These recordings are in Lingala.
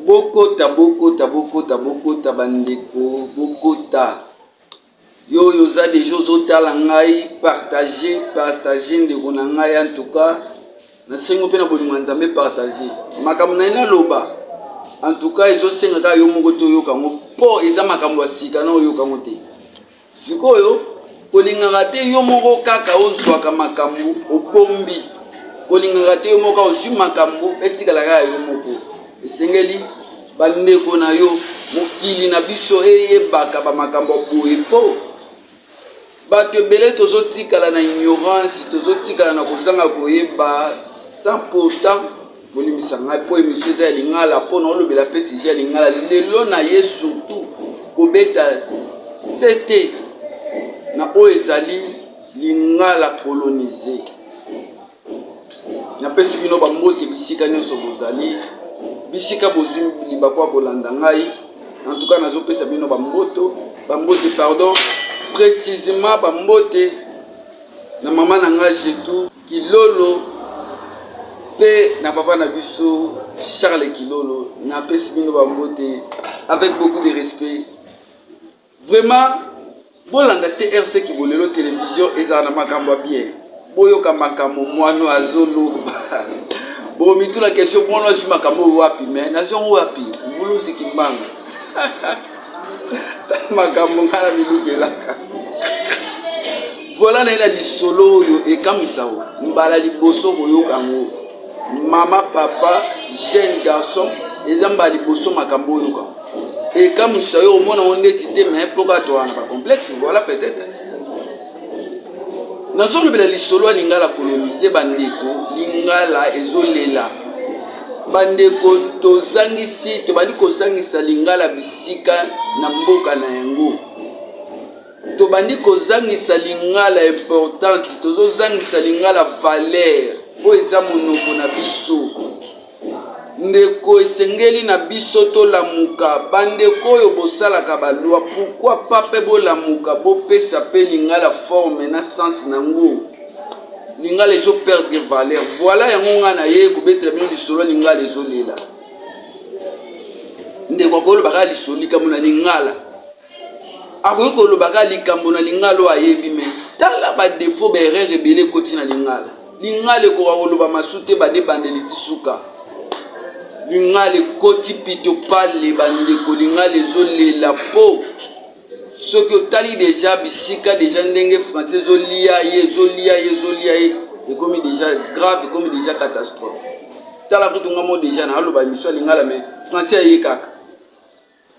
bokota bokota bokota bokota bandeko bokota yo oyo oza deja ozotala ngai partage partage ndeko na ngai antuka na sengo mpe na bolingo ya nzambe partage makambo na ye naloba en tout cas ezosenga kaka yo moko te oyoka yango mpo eza makambo ya sika na oyoka yango te sikoyo kolingaka te yo moko kaka ozwaka makambo obombi kolingaka te yo moko kaka ozwi makambo etikala kaka yo moko esengeli bandeko na yo mokili na biso eyebaka bamakambo boye mpo Bato ebele tozo tikala na ignorance, tozo tikala na kozanga koyeba sans pourtant bolimbisa ngai mpo emission eza ya lingala mpo na olobela mpe sujet ya lingala lelo na ye surtout kobeta sete na oyo ezali lingala kolonize napesi bino bambote bisika nyonso bozali bisika bozwi libaku ya kolanda ngai en tout cas nazopesa bino bamboto bambote pardon précisément bambote na mama na ngai jetou kilolo mpe na papa na biso charles kilolo napesi bino bambote avec beaucoup de respect Vraiment bolanda te RC Kibolelo television ezala na makambo ya bien. Boyoka makambo mwano azoloba. Bomituna question mwano azwi makambo oyo wapi mais nazwi yango wapi? Mvuluzi Kimbangu. makambo ngai na milobelaka voilà naye na lisolo oyo ekamwisa o mbala liboso koyoka yango mama papa jeune garçon eza mbala liboso makambo oyoka ekamwisa yo omona ngo ndeti te me mpo kaka towana na bacomplexe voilà peut-être nazolobela lisolo ya lingala kolonize bandeko lingala ezolela bandeko tozangisi tobandi kozangisa lingala bisika na mboka na yango tobandi kozangisa lingala importance tozozangisa lingala valeur oyo eza monoko na biso Ndeko esengeli na biso tolamuka. Bandeko oyo bosalaka ba loi pourquoi pas pe bolamuka bopesa pe lingala forme na sens na ngo. Lingala ezo perdre valeur. Voilà yango nga na ye kobetela bino lisolo lingala ezolela. Ndeko akoloba kaka lisolo likambo na lingala. akoki koloba kaka likambo na lingala oyo ayebi me tala badefo baerreur ebele ekoti na lingala lingala ekoka koloba masu te bade bandeli ti suka lingala ekoti pito pale bandeko lingala ezolela po soki otali deja bisika deja ndenge français ezolia ye ezolia ye ezolia ye ekomi deja grave ekomi deja catastrophe tala kutu ngamo deja na aloba emission ya lingala me français aye kaka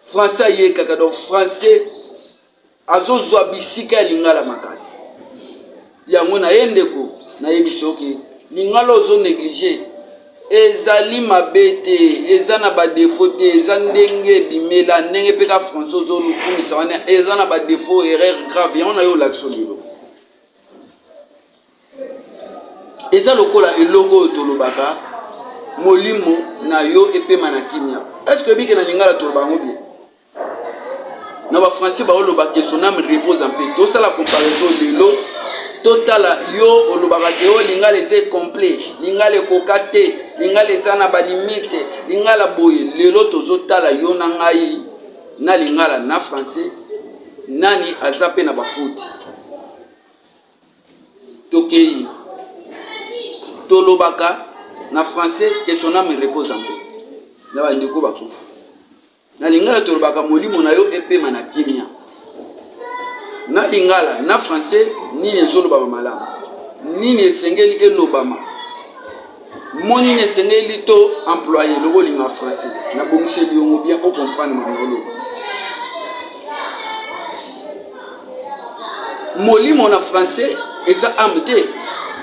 français ayekaka donc français azozwa bisika ya lingala makasi yango na ye ndeko nayebisi oke lingala ozo neglige ezali mabe te eza na badefo te eza ndenge ebimela ndenge mpe ka français ozolukumisa wana eza na badefo erreur grave yango na yo olakisi lelo eza lokola eloko oyo tolobaka molimo na yo epema na kimia eske oyebi ke na lingala toloba yango bien na bafrançais baoloba ke son ame repose en paix tosala comparaison lelo totala yo olobaka ke o oh, lingala eza complet lingala ekoka te lingala eza na balimite lingala boye lelo tozotala yo na ngai na lingala na français nani aza mpe na bafuti tokeyi tolobaka na français que son âme repose en paix na bandeko bakufa na lingala tolobaka molimo na yo epema na kimia na lingala na français nini ezolobama malamu nini esengeli elobama Mo nini esengeli to employe loko olinga français na bongiseli yongo bien o comprendre makambo oloba molimo na français eza ame te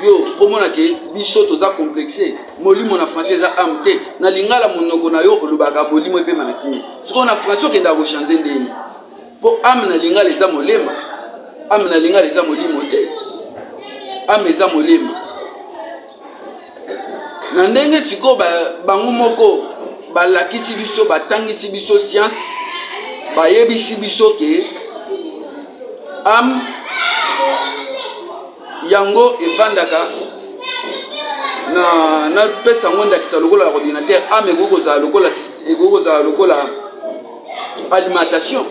yo komona ke biso toza complexe molimo na français eza ame te na lingala monoko na yo olobaka molimo epema na kimi sikoyo na français okendaka kochange ndenge mpo ame na lingala eza molema ame na lingala eza molimo te ame eza molema na ndenge sikoyo bango moko balakisi biso batangisi biso sianse bayebisi biso ke ame yango efandaka na napesa yango ndakisa lokola ordinateur ame ekoki kozala lokola ekoki kozala lokola alimentation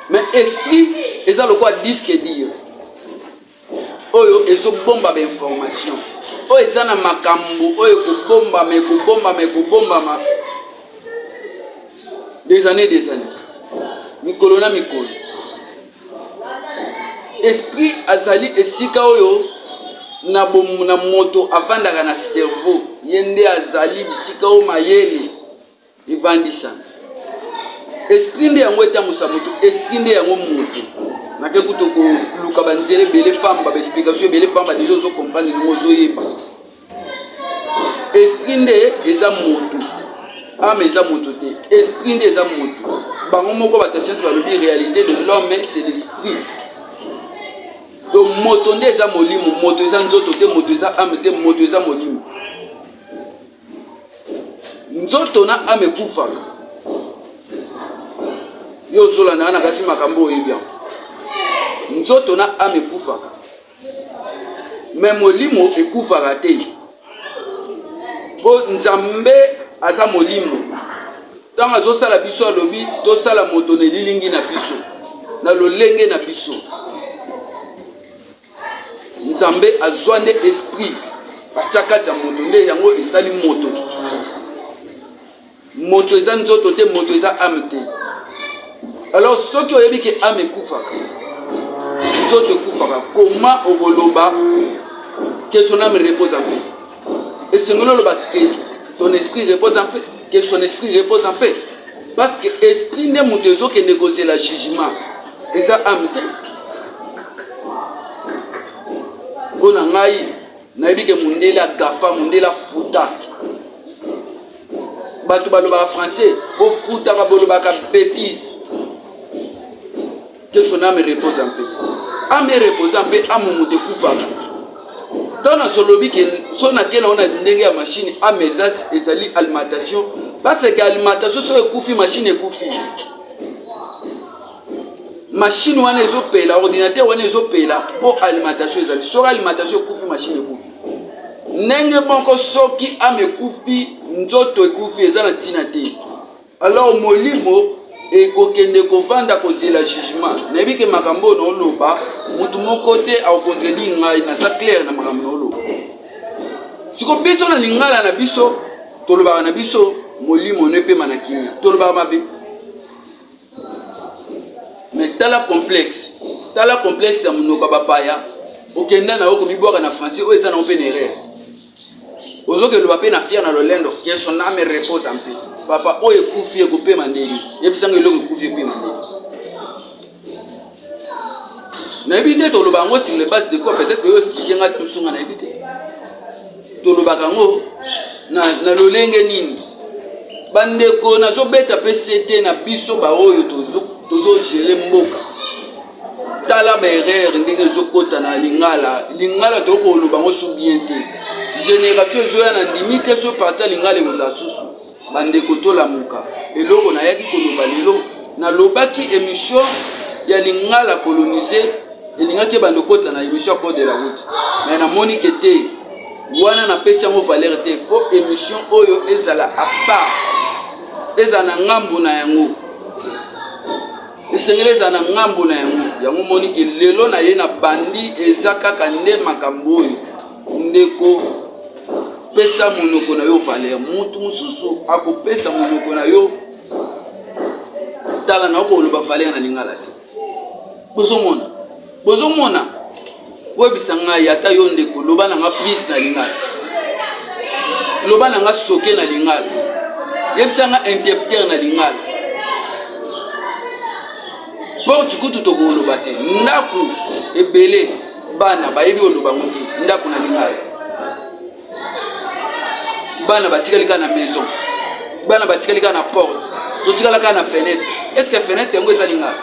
mais esprit eza lokola diske dire oyo ezobombama information oyo eza na makambo oyo ekobombama ekobombama ekobombama des années des années mikolo na mikolo esprit azali esika oyo na, na moto avandaka na cerveau ye nde azali bisika oyo mayele evandisa esprit nde yango etambusa moto esprit nde yango moto nake kutu koluka banzela ebele pamba baexplication ebele pamba deja ozo comprendre ndenge ozoyeba esprit nde eza moto ame eza moto te esprit nde eza moto bango moko bato ya siansi balobi réalité de l'homme c'est l'esprit donc moto nde eza molimo moto eza nzoto te moto eza ame te moto eza molimo nzoto na ame ekufaka yo ozolanda nga na kati makambo oyebi yango nzoto na ame ekufaka me molimo ekufaka te mpo nzambe aza molimo ntango azosala biso alobi tosala moto na elilingi na biso na lolenge na biso nzambe azwa nde esprit batya kati ya moto nde yango esali moto moto eza nzoto te moto eza ame te alors soki oyebi ke ame ekufaka nzoto ekufaka koma okoloba que son ame repose en paix esengeli oloba ke ton esprit repose en paix ke son esprit repose en paix parce que esprit nde moto ezokende kozela jugement eza ame te mpo na ngai nayebi ke mondele agafa mondele afuta bato balobaka français ofutaka bolobaka betise que son ame repose en paix ame repose en paix amu moto ekufaka ntango nasolobi ke so nakela ona ndenge ya mashine ame eza ezali alimentation paseke alimentation soki ekufi mashine ekufi mashine wana ezopela ordinateur wana ezopela mpo alimentation ezali soki alimentation ekufi mashine ekufi ndenge moko soki ame ekufi nzoto ekufi eza na ntina te Alors molimo ekokende kovanda kozela jugement. Nayebi ke makambo oyo naoloba motu moko te akontredire ngai, naza claire na makambo naoloba. Siko biso na lingala na biso tolobaka na biso molimo no epema na kimia, tolobaka mabe me tala complexe, tala complexe ya monoko ya bapaya, okenda na yo komibwaka na français oyo eza na yo mpe na erreur ozoke loba pe na fier na lolendo que son ame repose en paix papa oyo ekufi ekopema ndenge yebisa ngo eloko ekufi epema ndenge nayebi te toloba yango sur le base de quoi peut-être oyo explike ngai te mosusu ngai nayebi te tolobaka yango na, na lolenge nini bandeko nazobeta mpe sete na biso baoyo tozogere mboka tala ba erreur ndenge ezokota na lingala lingala tokoki koloba yango su bien te génération ezoya na ndimi te so parti ya lingala ekozala susu bandeko tolamuka eloko nayaki koloba lelo nalobaki émission ya lingala colonise elingaki ebanda okota na émission ya code de la route mais namoni ke te wana napesi yango valeur te fo émission oyo ezala apart ezala na ngambo na yango esengeli ezala na ngambo na yango yango moni ke lelo na ye na bandi eza kaka nde makambo oyo ndeko pesa monoko na yo valeur motu mosusu akopesa monoko na yo tala na okoloba valeur na lingala te bozomona bozomona boyebisa ngai ata yo ndeko loba na nga please na lingala loba na nga soke na lingala yebisa nga interpreter na lingala porte kutu tokoloba te ndako ebele bana bayebi oloba ngo te ndako na lingala bana batikali kaka na maison bana batikali kaka na porte totikala kaka na fenêtre est ce que fenêtre yango eza lingala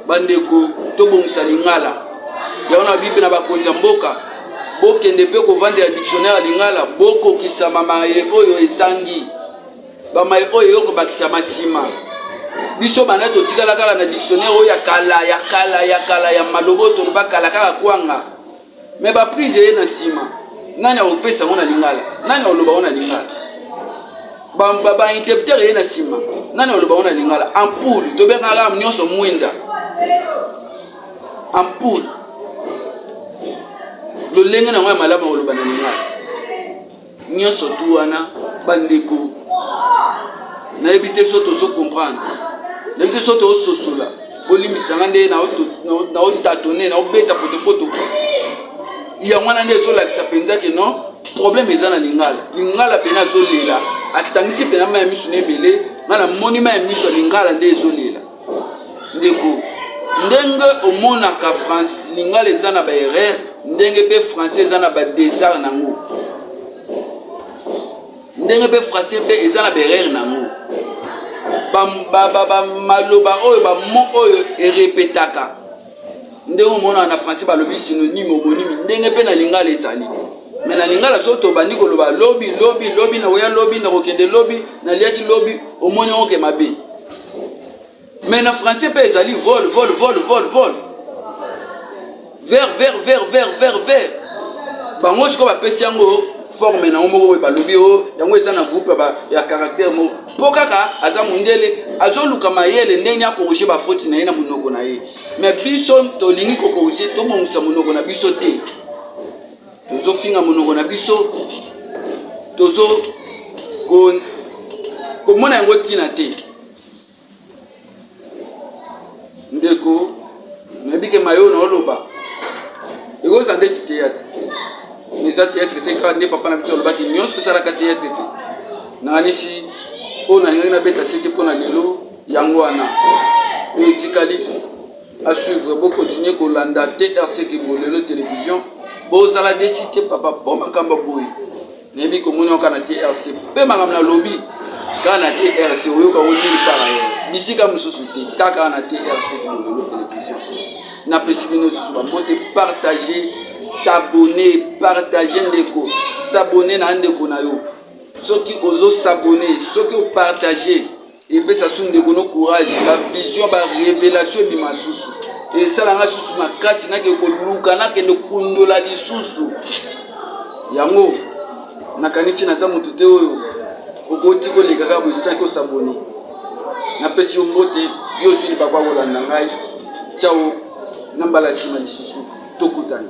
bandeko tobongisa lingala yango na bible na bakonzi ya mboka bokende mpe kovandela dictionnaire ya lingala bokokisama maye oyo ezangi bamaye oyo eyo kobakisama nsima biso banda totikala kaka na dictionnaire oyo ya kala ya kala ya kala ya maloba oyo toloba kala kaka kwanga Mais ba prise eye na sima nani akopesa yango na lingala nani akoloba yango na lingala bainterpreter ba, ba eye na sima nani akoloba yango na lingala ampoule tobengaka nyonso mwinda ampoule lolenge na yango ya malamu akoloba na lingala nyonso tu wana bandeko nayebi te so tozo comprendre nayebi te so tozososola bolimbisa nga nde naotatone naobeta potopoto yango wana nde ezolakisa mpenza ke non problème eza na lingala lingala mpena azolela atangisi mpena mai ya miso na ebele nga namoni mai ya miso ya lingala nde ezolela ndeko ndenge omonaka france lingala eza na baerreur ndenge mpe français eza na badesart na yango ndenge mpe français mpe eza na baerreur na yango maloba oyo bamo oyo erepetaka ndenge omonaka na français balobi synonyme omonimi ndenge mpe na lingala ezali me na lingala soki tobandi koloba lobi lobi lobi nakoya lobi nakokende lobi naliaki lobi omoni yango ke mabe me na français mpe ezali vol vol vol vol vol ver ver ver ver ver ver bango sikoyo bapesi yango forme na yango moko boye balobi o oh, yango eza na groupe ya caractère moko mpo kaka aza mondele azoluka mayele ndenge akorige bafoti na ye na monoko na ye me biso tolingi kokorige tobongisa monoko na biso te tozofinga monoko na biso tozo komona yango ntina te ndeko nayebi ke mayo na oloba ekoza nde theatre mais eza theatre te kaka nde papa na biso alobaki nyonso esalaka theatre te nakanisi oyo nalingaki nabeta se te mpo na lelo yango wana oyo etikali asuivre bokontinue kolanda trc kibo lelo télévision bozala desi te papa mpo makambo boye nayebi komona yo kana trc mpe makambo nalobi kaka na trc oyoka ngo nini kaka yo bisika mosusu te kaka na trc kolobelo television napesi bino lisusu bambote partage sabone partage ndeko sabone na ndeko na yo soki ozosabone soki opartage epesa su ndeko no courage ba vision ba revelation ebima susu esala nga susu makasi nake koluka nakende kundola lisusu yango nakanisi naza moto te oyo okoti koleka kaka boisaki osabone napesi yo mbote yo ozwi libaku akolanda ngai cao na mbala nsima lisusu tokutana